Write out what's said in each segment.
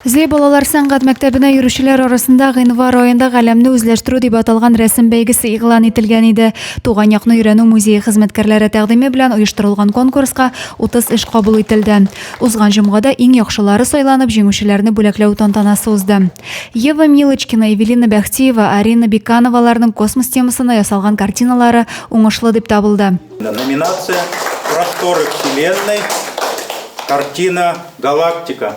Зле балалар сәнгать мәктәбенә йөрүчеләр арасында гыйнвар аенда Галәмне үзләштерү дип аталган рәсем бәйгесе игълан ителгән иде. Туган якны өйрәнү музее хезмәткәрләре тәкъдиме белән оештырылган конкурска 30 эш кабул ителде. Узган җомгада иң яхшылары сайланып, җиңүчеләрне бүләкләү тантанасы узды. Ева Милочкина, Эвелина Бәхтиева, Арина Бекановаларның космос темасына ясалган картиналары уңышлы дип табылды. Номинация, Просторы Вселенной, картина Галактика.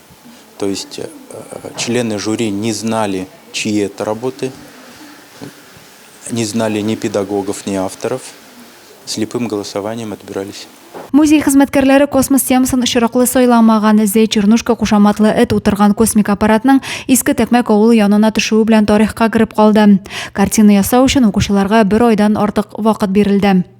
То есть э, члены жюри не знали, чьи это работы, не знали ни педагогов, ни авторов. Слепым голосованием отбирались. Музей хезмәткәрләре космос темасын очраклы сайламаган эзе Чернушка кушаматлы эт утырган космик аппаратның иске тәкмәк авылы янына төшүе белән тарихка кереп калды. Картина ясау өчен укучыларга бер айдан артык вакыт бирелде.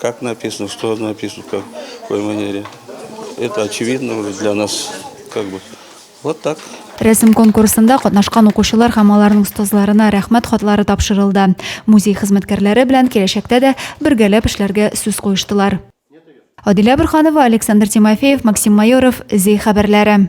Как написано, что написано, как, в какой манере. Это очевидно уже для нас, как бы. Вот так. Рәсем конкурсында катнашкан укучылар һәм аларның остазларына рәхмәт хатлары тапшырылды. Музей хезмәткәрләре белән киләчәктә дә бергәләп эшләргә сүз куештылар. Адилә Бурханова, Александр Тимофеев, Максим Майоров, Зей хәбәрләре.